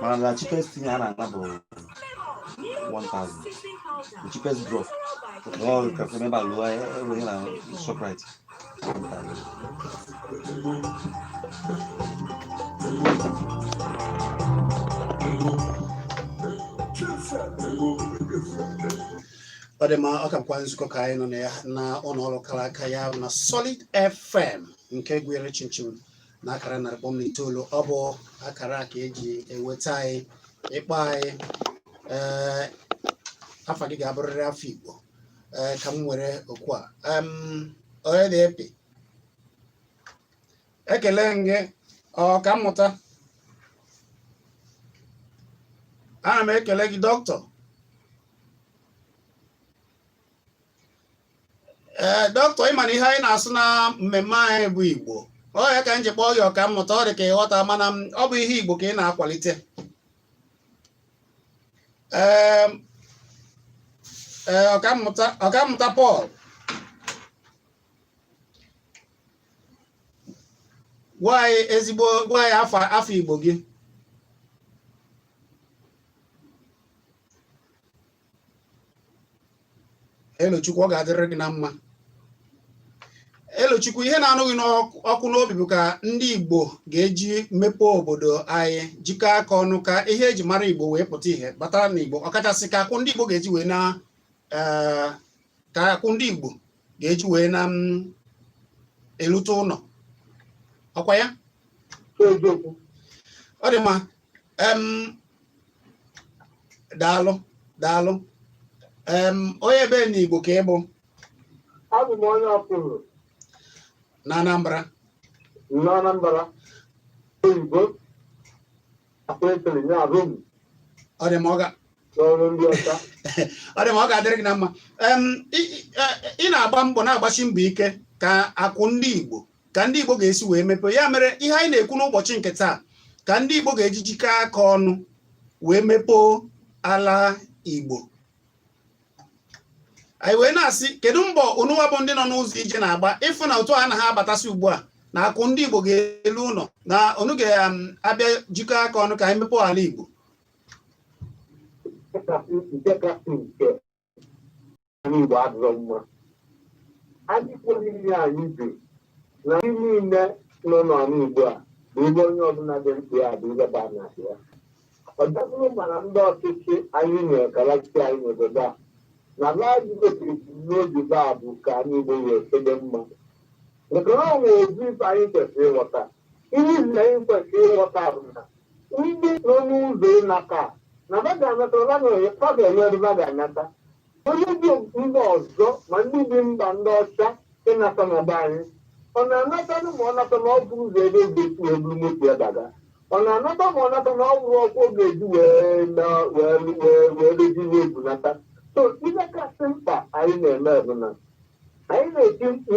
mana na cheapest thing a na-ana bụ 1000 the cheapest drop all ka feme ba lo e wo ni na shoprite ọ dị mma ọ ka bụkwa nzukọ ka anyị nọ na ya na ụlọ ọrụ kara aka ya na solid fm nke kwụrụ chịm chịm na akara narị kpọm na itoolu ọ bụ akara ka eji enweta anyị ị kpọọ anyị ee afa gị ga-abụrịrị afa Igbo ee ka m were oku a onye na-epi ekele gị ọka mmụta ana m ekele gị doctor ee doctor ị ma na ihe anyị na-asụ na mmemme anyị bụ igbo ọ ya ka m ji kpọọ gị ọka mmụta ọ dị ka ị ghọta mana m- ọ bụ ihe igbo ka anyị na-akwalite Em, ee, ọkammụta ọkammụta Paul gwa anyị ezigbo gwa anyị afa afa igbo gị elochukwu ọ ga-adịrị gị na mma elochukwu ihe na-anụ gị n'ọkụ n'obi bụ ka ndị igbo ga-eji mepee obodo anyị jikọ aka ọnụ ka ihe eji mara igbo wee pụta ihe batara na igbo ọkachasị ka akụ ndị igbo ga-eji wee na eh, ka akụ ndị igbo ga-eji wee na mm, elute ụlọ ọ kwa ya ọ dị mma daalụ daalụ onye ebe na Igbo ka ị bụ abụ m onye Ọkụzụ na Anambra na Anambra Oyi ọ dị m ọ ga ọ dị mma ọ ga-adịrị gị na mma ị na-agba mbọ na-agbasi mbọ ike ka akụ ndị Igbo ka ndị Igbo ga-esi wee mepee ya mere ihe anyị na-ekwu n'ụbọchị nke taa ka ndị Igbo ga-eji jikọ aka ọnụ wee mepee ala Igbo anyị wee na-asị kedu mbọ unuwa bụ ndị nọ n'ụzọ ije na-agba ịfụ na otu a na ha abatasị ugbu a na akụ ndị Igbo ga-elu ụlọ na unu ga-abịa um, jikọ aka ọnụ ka anyị mepee ala Igbo anị Igbo adịrọ mma anyị kwere ihe anyị bi na anyị niile nọ n'ala Igbo a bụ ebe onye ọbụla dị mkpa ya bụ ihe ba na ya ọ dabụrụ mana ndị ọchịchị anyị nwere ka na-achị anyị n'obodo a na naanị gosiri n'obi ba bụ ka anị Igbo wee sebe mma maka na ọ nwere ozi ife anyị kwesịrị ịghọta ihe izi anyị kwesịrị ịghọta bụ na ndị nọ n'ụzọ ịnata na ba ga-anata ba ga-efa ga-enye ọdụ ba ga-anata onye dị mba ọzọ ma ndị dị mba ndị ọcha ịnata na be anyị ọ na-anatanụ ma ọ nata na ọ bụ ụzọ ebe e ga-esi wee buru moto ya daga ọ na-anata ma ọ nata na ọ bụrụ ọkụ ọ ga-eji wee na wee wee wee dozi ihe ebunata so ihe kasị mkpa anyị na-eme bụ na anyị na-eti mkpu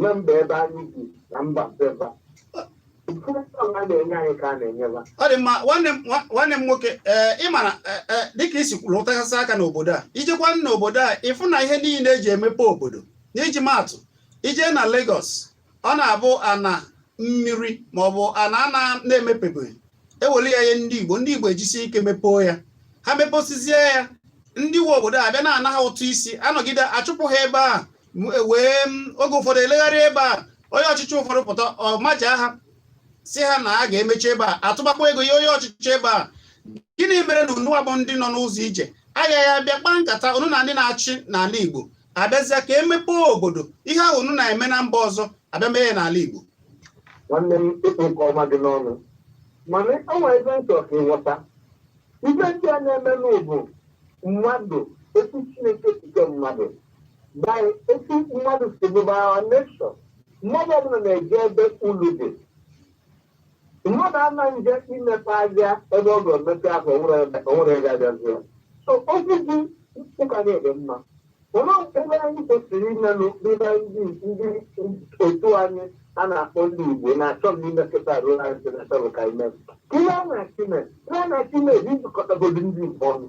na mba ebe anyị bi na mba beba ọ dị mma nwanne m nwoke ee eh, ịmara eh, eh, dịka i si lụtụgasị aka n'obodo a i jekwa n'obodo a ịfụ na ihe niile eji emepe obodo n'iji maatụ ije na Lagos ọ na-abụ ana mmiri maọbụ ana ana na-emepebeghị ewelu ya nye ndị Igbo ndị Igbo ejisie ike mepee ya ha meposizie ya ndị nwe obodo abịa na-ana ha ụtụ isi anọgide achụpụ ha ebe a wee oge ụfọdụ elegharị ebe a onye ọchịchị ụfọdụ pụta maja ha si ha na a ga-emechi ebe a atụbakwa ego nye onye ọchịchị ebe a gịnị mere na unuwa bụ ndị nọ n'ụzọ ije agaghị abịa kpaa nkata unu na ndị na-achị n'ala Igbo abịazịa ka emepe obodo ihe ahụ unu na-eme na mba ọzọ abịa mee n'ala Igbo nwanne m ị kpụ nke ọma dị n'ọnụ mana o nwe ebe m chọ ka ị ghọta ife ndị a na-eme n'ụbụ mmadụ etu Chineke si kee mmadụ by etu mmadụ si bụ by our nature mmadụ ọbụla na-eje ebe ulu dị mmadụ anaghị eje imepe ahịa ebe ọ ga-emepe ahụ onwere ebe abịazie so okwu gị ụka na-ede mma olee ebe anyị kwesịrị imenụ dịbe ndị ndị otu anyị a na-akpọ ndị Igbo na-achọ m imekọta ruo anyị si na-achọ ka ime ka ihe a na-achọ ime ihe a na-achọ ime bụ ijikọtagodo ndị Igbo ọnụ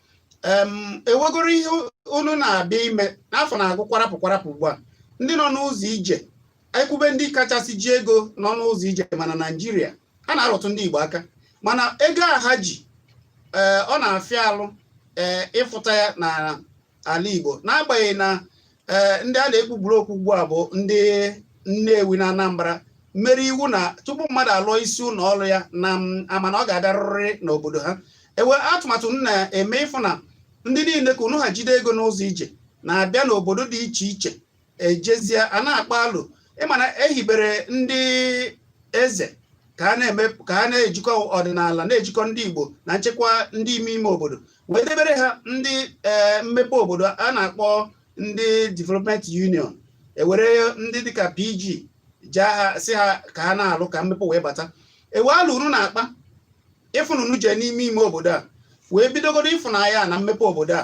e nwegoro ihe unu na-abịa ime n'afọ na-agụ kwara afọ kwara afọ ugbu a ndị nọ n'ụzọ ije ekwube ndị kachasị ji ego nọ n'ụzọ ije mana naijiria a na-arụtụ ndị igbo aka mana ego a ha ji eh, ọ na-afịa alụ eh, ịfụta ya n'ala igbo n'agbanyeghị na ee ndị a na-ekpupụrụ okpu ugbu a bụ ndị Nnewi na Anambra mere iwu na tupu mmadụ alụọ isi ụlọ ọrụ ya na ama na ọ ga-abịarịrị n'obodo ha e nwe atụmatụ unu na-eme ịfụ na ndị niile ka unu ha jide ego n'ụzọ ije na-abịa n'obodo dị iche iche ejezie a na-akpa alụ ị ma na ehibere ndị eze ka ha na-ejikọ ọdịnala na-ejikọ ndị Igbo na nchekwa ndị ime ime obodo wee debere ha ndị eh, mmepe obodo a na-akpọ ndị development union ewere ndị dịka pg jaa ha sị ha ka ha na-alụ ka mmepe wee bata ebe ahụ unu na-akpa ịfụ na unu jee n'ime ime obodo a wee bidogodo ịfụnanya na mmepe obodo a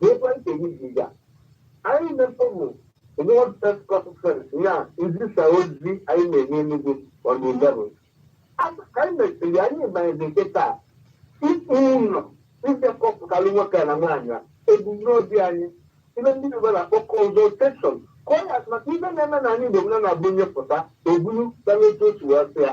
Different things ya. Anyị mepụrụ World Press Conference ya izisa ozi anyị na-enye Enugu on the eleventh. Anyị mesịrị anyị banyere nkịta ịkpụ ụlọ ịbịakọpụtalụ nwoke na nwaanyị a ebumnobi anyị ife ndị Igbo na-akpọ consultation ka ọ ya maka ife na-eme na anyị Igbo na na-abụ onye pụta o bulu banye otu otu wee sị ya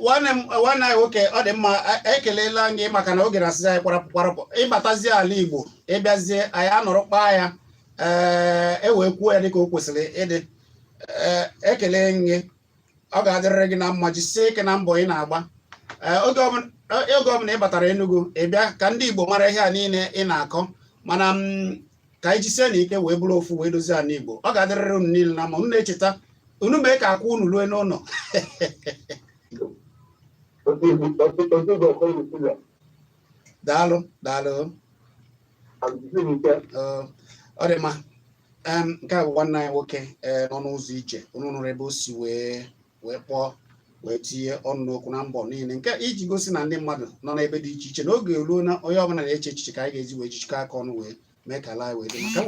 nwanne m nwanne anyị nwoke ọ dị mma ekelela m gị maka na oge na-asịzi anyị kwarapụ kwarapụ ị batazie ala Igbo ị bịazie anyị anọrọ kpaa ya ee e wee kwuo ya dịka o kwesịrị ịdị ekele m gị ọ ga-adịrịrị gị na mma jisie ike na mbọ ị na-agba oge ọbụla ị batara Enugu ị bịa ka ndị Igbo mara ihe a niile ị na-akọ mana ka anyị jisienụ ike wee bụrụ ofu wee dozie ala igbo ọ ga-adịrịrị unu niile na mma unu na-echeta unu mee ka akụ unu rue n'ụlọ daalụ daalụ ọ dị mma nke a bụ nwanne anyị nwoke eh, nọ n'ụzọ ije unu nụrụ ebe o si wee wee kpọọ wee tinye ọnụ n'okwu na mbọ niile nke iji gosi na ndị mmadụ nọ n'ebe dị iche iche n'oge eruo na onye ọbụla na-eche echiche ka anyị ga-eji wee jichikọ aka ọnụ wee mee ka ala anyị wee dị mma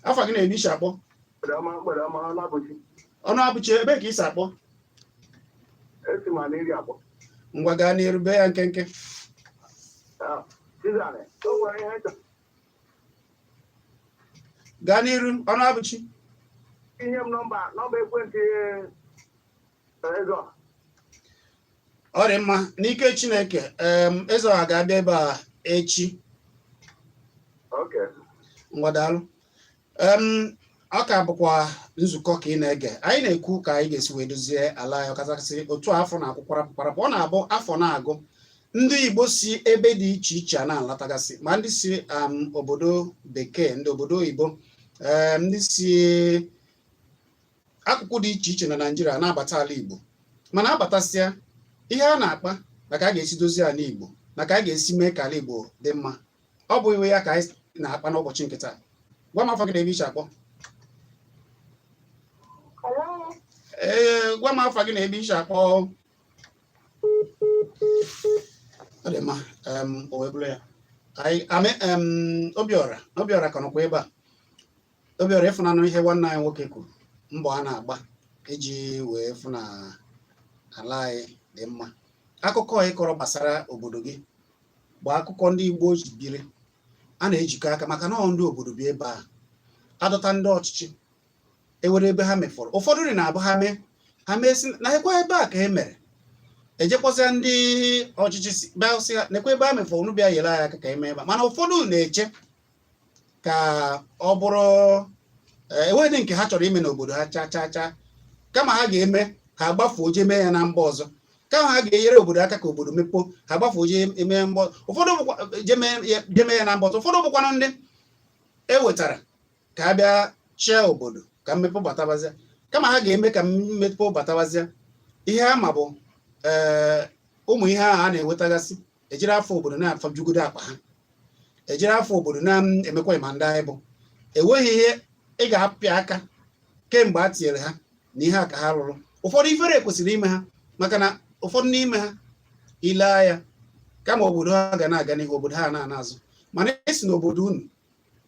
afa gị na ebe i si akpọ ọnụabụchi ebe ka i si akpọ ngwa gaa n'iru bee ya nkenke gaa n'iru ọnụabụchi nye m nọmba nọmba ekwentị ezeọha. ọ dị mma n'ike chineke em ezeọha ga-abịa ebe a echi Okay. ngwa daalụ ọ ka bụkwa nzukọ ka ị na-ege anyị na-ekwu ka anyị ga-esi wee dozie ala anyị ọkachasị otu afọ na-ekwu kwarapụ kwarapụ ọ na-abụ afọ na-agwụ ndị Igbo si ebe dị iche iche a na-alatagasị ma ndị si um, obodo bekee ndị obodo oyibo um, ndị si akụkụ dị iche iche na Naịjirịa na-abata ala Igbo mana a batasịa ihe a na-akpa na ka a ga-esi dozie ala Igbo na ka a ga-esi mee ka ala Igbo dị mma ọ bụ iwe ya ka anyị na-akpa n'ụbọchị nke taa gwa m afa gị na ebe i si akpọ ee gwa m afa gị na ebe i si akpọ ọ dị mma o wee bụrụ ya amị obiọra obiọra ka nọkwa ebe a obiọra ị fụnanụ ihe nwanne anyị nwoke kwuru mbọ a na-agba iji wee fụ na ala anyị dị mma akụkọ ị kọrọ gbasara obodo gị bụ akụkọ ndị Igbo ji biri a na-ejikọ aka maka na ndị obodo bi ebe a adọta ndị ọchịchị e nwere ebe ha mefọrọ ụfọdụ dị na-abụ ha mee ha mee sị nekwa ebe a ka e mere ejekwazịa ndị ọchịchị bịa sị ha nekwa ebe ha mefọrọ unu bịa yere anyị aka ka e mee ebe a mana ụfọdụ na-eche ka ọ bụrụ eh, enweghị nke ha chọrọ ime n'obodo ha cha cha cha kama ha ga-eme ha gbafuo jee mee ya na mba ọzọ kama ha ga-enyere obodo aka ka obodo mepee ha gbafuo jee mee ya mba ụfọdụ je mee ya na mba ọzọ ụfọdụ bụkwanụ ndị e wetara ka ha bịa chịa obodo ka mmepe batabazịa kama ha ga-eme ka mmepe batabazịa ihe ha ma bụ eh, ụmụ ihe ahụ a na-enwetagasị ejiri afa obodo na-afajugodo akpa ha ejiri afa obodo na-emekwa ị ma ndị anyị bụ enweghị ihe ị ga-apịa aka kemgbe a tinyere ha na ihe a ka ha rụrụ ụfọdụ ifere kwesịrị ime ha maka na ụfọdụ n'ime ha ile ya kama obodo ha ga na-aga n'ihu obodo ha na-ana azụ mana ị sị na obodo unu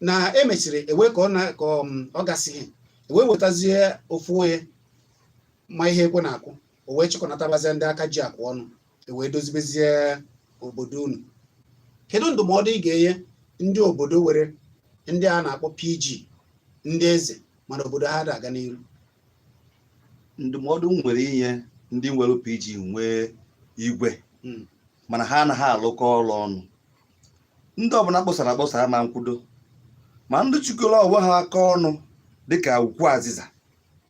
na e mesịrị ewe ka um, ọ gasịrị ewee wetazie ofu onye ma ihe ekwe na-akụ o wee chịkọnatabazie ndị aka ji akụ ọnụ ewee dozibezie obodo unu kedu ndụmọdụ ị ga-enye ndị obodo nwere ndị a na-akpọ PG ndị eze mana obodo ha da aga n'iru ndụmọdụ m nwere inye ndị nwere PG nwee igwe hmm. mana ha anaghị alụkọ ọrụ ọnụ ndị ọbụla kpọsara akpọsa ma nkwudo ma ndị chịkọrọ onwe ha aka ọnụ dịka ukwu azịza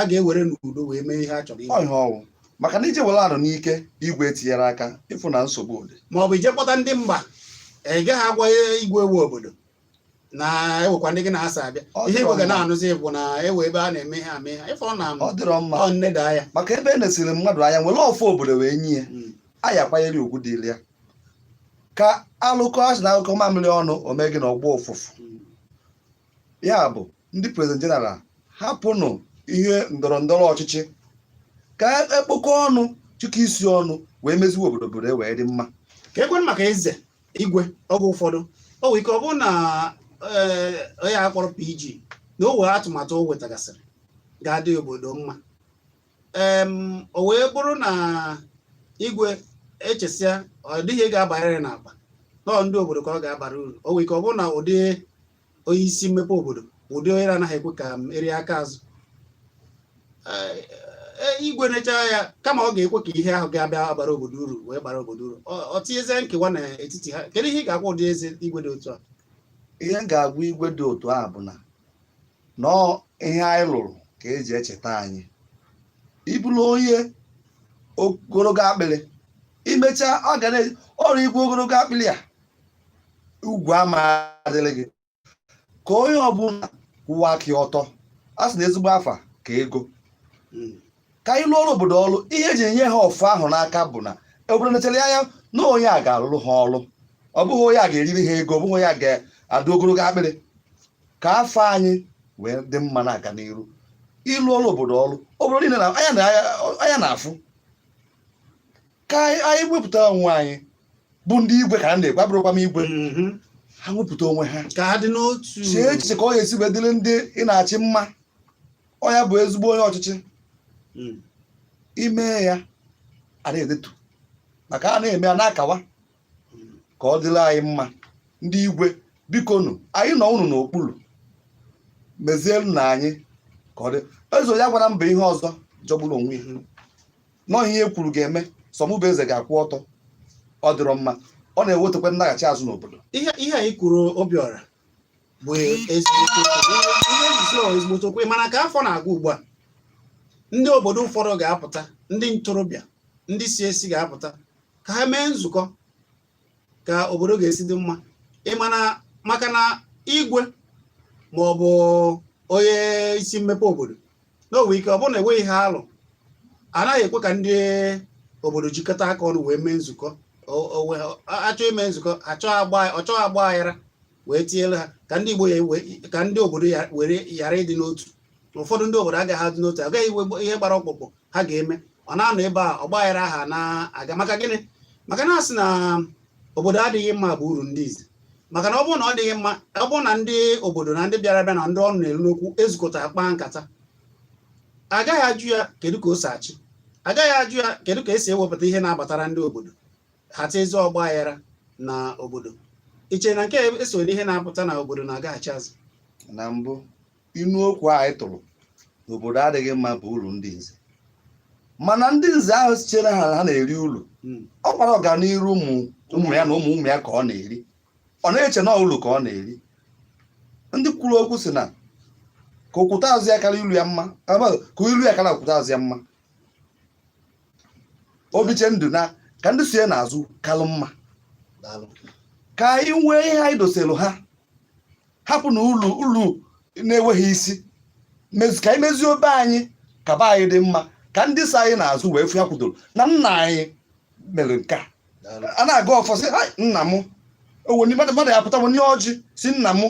a ga-ewere n'udo wee mee ihe a chọrọ ime ihe ọ wụ maka na i je were arụ n'ike igwe etinyerọ aka ị fụ na nsogbu dị ma ọ bụ i je kpọta ndị mba ị gaghị agwa igwe nwe obodo na e nwekwa ndị gị na ha so abịa ihe igwe ga na-anụzi bụ na e nwee ebe a na-eme ihe ame ha ị fụ na ọ dịrọ mma ọ nneda ya maka ebe e nesiri mmadụ anya were ọfọ obodo wee nye ya hmm. a ya akwanyere ugwu dịrị ya ka alụkọ a sị na anyụkọọ mamịrị ọnụ o mee gịnị ọ gbọọ ụfụfụ ya bụ ndị president general hapụnụ ihe ndọrọ ndọrọ ọchịchị ka e kpokọọ ọnụ chịkọ isi ọnụ wee meziwe obodo obodo e wee dị mma ka ekwenụ maka eze igwe oge ụfọdụ o nwere ike ọ bụrụ na ee, onye a kpọrọ PG na o nwee atụmatụ o wetagasịrị ga-adị obodo mma o wee bụrụ na igwe echesịa ọ dịghị ga-abarịrị n'akpa nọọ ndị obodo ka ọ ga-abara uru o nwere ike ọ bụrụ na ụdị onye isi mmepe obodo ụdị onye na-anaghị ekwe ka e rie aka azụ igwe nechaa ya kama ọ ga-ekwe ka ihe ahụ ga-abịa abara obodo uru wee bara obodo uru o tinyezie nkewa n'etiti ha kedu ihe ị ga-agwa ụdị eze igwe dị otu a ihe m ga-agwa igwe dị otu a bụ na nọọ ihe anyị lụrụ ka eji echeta anyị ị bụrụ onye ogologo akpịrị i mechaa ọ ga na ọrụ igwe ogologo akpịrị a ugwu ama adịrị gị ka onye ọbụla kwụwa aka ọtọ a sị na ezigbo afa ka ego hmm. ka anyị lụọrọ obodo ọrụ ihe eji enye ha ọfọ ahụ n'aka bụ na obodo nechara anya na onye a ga-alụrụ ha ọrụ ọ bụghị onye a ga-eriri ha ego ọ bụghị onye a ga-adụ ogologo akpịrị ka afọ anyị wee dị mma na-aga n'iru ịlụ ọrụ obodo ọrụ obodo niile na anya na- anya na-afụ ka anyị anyị wepụta onwe anyị bụ ndị igwe ka a na-ekwu abụrọkwa m igwe Mhm. ha wepụta onwe ha ka ha dị n'otu chee echiche ka ọ ga-esi wee dịrị ndị ị na-achị mma ọ nya bụ ezigbo onye ọchịchị Mm. i mee ya a na-edetu maka a na-eme a na-akawa ka ọ dịrị anyị mma ndị igwe bikonụ anyị nọ unu n'okpuru mezielunụ anyị ka ọ dị eze onye agwala m bụ ihe ọzọ jọgburu onwe ya nọọ ihe e kwuru ga-eme sọ mụ bụ eze ga-akwụ ọtọ ọ dịrọ mma ọ na-ewetakwa ndaghachi azụ n'obodo ihe ihe anyị kwuru Obiọra bụ ezigbote okwu. ihe nzuzo bụ ezigbote okwu mana ka afọ na-aga ugbu a ndị obodo ụfọdụ ga-apụta ndị ntorobịa ndị si esi ga-apụta ka ha mee nzukọ ka obodo ga-esi dị mma ị mana maka na igwe ma ọ bụ onye isi mmepe obodo nwere ike ọ bụrụ na enweghị ihe alụ anaghị ekwe ka ndị obodo jikọta aka ọnụ wee mee nzukọ a chọọ ime nzukọ ọ chọọ ọgba aghara wee tinyere ha ka ndị Igbo ka ndị obodo were ghara ịdị n'otu ụfọdụ ndị obodo agaghị adị n'otu agaghị inwe ihe gbara ọkpụkpụ ha ga-eme ọ na-anọ ebe a ọgba aghara ahụ na-aga maka gịnị maka na a sị na obodo adịghị mma bụ uru ndị nze maka na ọ bụrụ na ọ dịghị mma ọ bụrụ na ndị obodo na ndị bịara abịa na ndị ọnụ na-eru n'okwu ezukọta kpaa nkata agaghị ajụ ya kedu ka o si achị agaghị ajụ ya kedu ka esi ewepụta ihe na-abatara ndị obodo ha etinyezie ọgba aghara na obodo i che na nke a esoro ihe na-akpata na obodo na-agaghachi azụ na mbụ inu okwu a anyị tụrụ na obodo adịghị mma bụ uru ndị nze mana ndị nze ahụ si chee ha ha na-eri uru hmm. ọ gbara ọganiru ụmụ ụmụ ya na ụmụ ụmụ ya ka ọ na-eri ọ na-eche na uru ka ọ na-eri ndị kwuru okwu sị na ka okwute azụ ya kara ilu ya mma ka ilu ya kara okwute azụ ya mma o biche ndụ na ka ndị so ya n'azụ kalụ mma ka anyị nwee ihe anyị doselu ha hapụnụ ulu ulu na-enweghị isi mezi ka anyị mezie obe anyị ka be anyị dị mma ka ndị so anyị n'azụ wee fụ ya kwudoro na nna anyị mere nke a a na-agọ ọfọ sị "Hai, nna m owe ndị mmadụ mmadụ ya pụta o nye ọjị sị nna m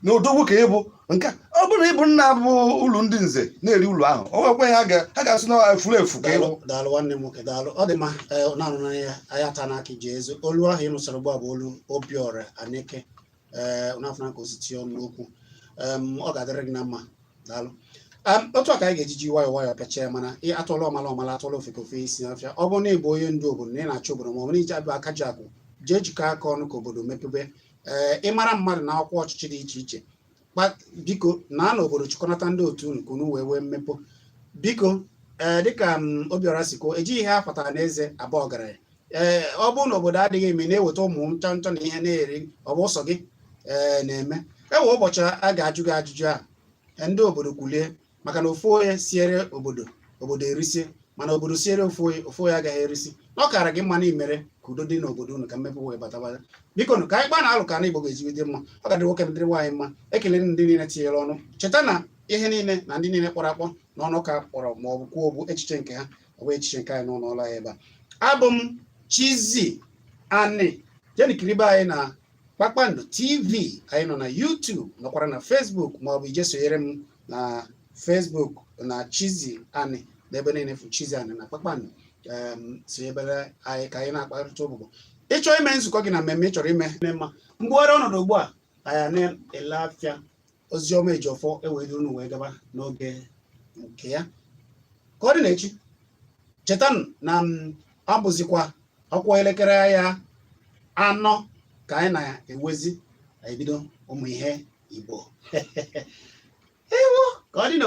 na odogwu ka ị bụ nke a, ọ bụrụ na ị bụ nna bụ ulu ndị nze na-eri ulu ahụ o nwekwe ha ga- ha ga-asị na efulefu ka ị bụ daalụ daalụ nwanne m nwoke daalụ ọ dị mma ee, na-anụ n'anya anyị ata n'aka iji ezi olu ahụ ị nụsịrị ugbu a bụ olu Obiọra Aneke ee na-afụ na ka o si tinye ọnụ n'okwu em, ọ ga-adịrị gị na mma daalụ Em, otu a ka anyị ga-eji ji nwayọọ nwayọọ pịachie ya mana a tụọla ọmala ọ mala a tụọla ofeke o fee isi n'ọfịa ọ bụrụ na ị bụ onye ndu obodo na ị na-achị obodo ma ọ bụ na ị bụ aka ji akụ jee jikọọ aka ọnụ ka obodo mepebe ee ị mara mmadụ n'ọkwa ọchịchị dị iche iche Kpa- biko na na obodo chịkọnata ndị otu unu ka unu wee nwee mmepe biko ee dịka em, Obiọra si kwuo e jighị ihe a fatara n'eze aba ọgaranya ee ọ bụrụ na obodo adịghị mma ị na-eweta ụmụ ncha ncha na ihe na-eri ọ bụ sọ gị ee na-eme e nwee ụbọchị a ga-ajụ gị ajụjụ a e, ndị obodo kwulie maka na ofu onye siere obodo obodo erisie mana obodo siere ofu onye ofu onye agaghị erisi na ọ kara gị mma na i mere ka udo dị n'obodo unu ka mmepe wee bata bata biko nụ ka anyị gbaa na alụ ka ana Igbo ga-eji wee dị mma ọ ga-adị nwoke dịrị nwaanyị mma ekele ndị niile tinyere ọnụ cheta na ihe niile na ndị niile kpọrọ akpọ na ọnụ ka kpọrọ ma ọ bụ kwuo bụ echiche nke ha ọ bụghị echiche nke anyị n'ụlọ ọrụ anyị ebe a abụ m Chizzy Ani jeenụ kiribe anyị na Kpakpando TV anyị nọ na YouTube nọkwara na Facebook ma ọ bụ i jee sonyere m na Facebook na Chizzy Ani n'ebe niile fụ Chizzy Ani na Kpakpando sonyebere anyị ka anyị na-akparịta ụbụbọ ị chọọ ime nzukọ gị na mmemme ị chọrọ ime mma mgbughara ọnọdụ ugbu a anyị na-ele afịa Oziọma Ejiọfọ ewee duru unu wee gaba n'oge nke ya ka ọ dị n'echi cheta na ọ bụzikwa ọ kụọ elekere ya anọ ka anyị na-ewezi ebido ụmụ ihe Igbo ewo ka ọ dị na